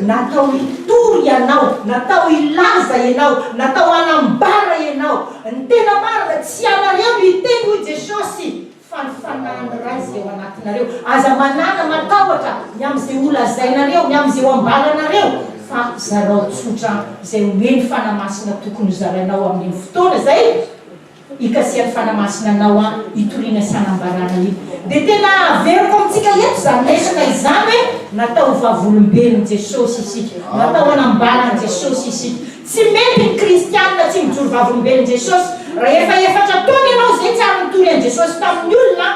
Natao hitory ianao, natao hilaza ianao, natao hanambara ianao ny tena marina, tsy ianareo no hiteny hoy Jesosy fa ny Fanahin'ny Ray izay ao anatinareo. Aza manana matahotra ny amin'izay holazainareo, ny amin'izay ho ambalanareo fa zarao tsotra izay omeny Fanahy Masina tokony hozarainao amin'iny fotoana izay. Ikasian'i Fanahy Masina anao an hitoriana sy hanambarana io. Dia tena averiko amintsika eto izany resaka izany hoe natao ho vavolombelon'i Jesosy isika. Natao hanambaran'i Jesosy isika. Tsy mety ny kristianina tsy mijoro vavolombelon'i Jesosy. Rahefa efatra taona ianao izay tsy ary nitory an'i Jesosy tamin'ny olona an.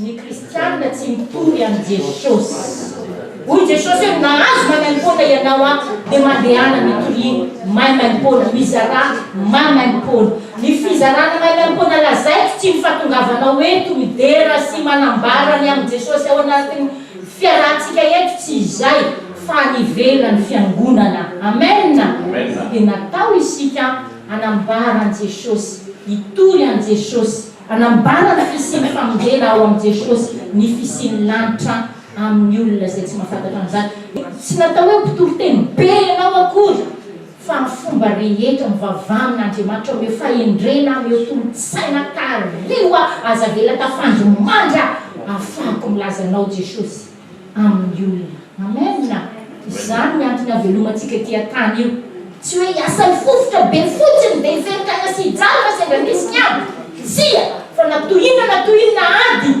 Ny kristiana tsy mitovy amin'i Jesosy. Hoy Jesosy hoe, Mahazo maimaimpoana ianao ato, dia mandehana mitoria maimaimpoana, mizarà maimaimpoana. Ny fizarana maimaimpoana lazaiko tsy ny fahatongavanao eto midera sy manambara ny amin'i Jesosy ao anatin'ny fiarahantsika eto, tsy izay, fa any ivelan'ny fiangonana. Amen! Dia natao isika hanambara an'i Jesosy, hitory an'i Jesosy. Hanambara ny fisian'ny famonjena ao amin'i Jesosy ny fisian'ny lanitra amin'ny olona izay tsy mahafantatra an'izany. Tsy natao hoe mpitoriteny be ianao akory fa ny fomba rehetra mivavaha amin'Andriamanitra omeo fahendrena, omeo tolo-tsaina, tariho aho, aza avela tafandry mandra ahafahako milaza anao Jesosy. amin'ny olona. Amen! Izany ny antony havelomantsika ity an-tany io. Tsy hoe hiasa mifofotra be fotsiny dia hiverina any asia hijanona sendra misy ny ady. Tsia, fa na toy inona na toy inona ady,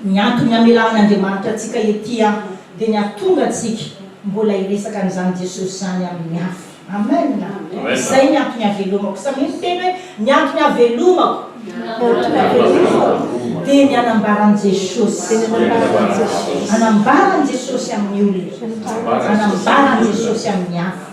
ny antony hamelahan'Andriamanitra antsika ety an dia ny hahatonga antsika mbola hiresaka an'izany Jesosy izany amin'ny hafa. Amen a! Izay ny antony havelomako. Samia miteny hoe, Ny antony havelomako. Ny antony havelomako. Dia ny hanambaran'i Jesosy. Dia ny hanambaran'i Jesosy. Hanambaran'i Jesosy amin'ny olona. Hanambaran'i Jesosy amin'ny hafa.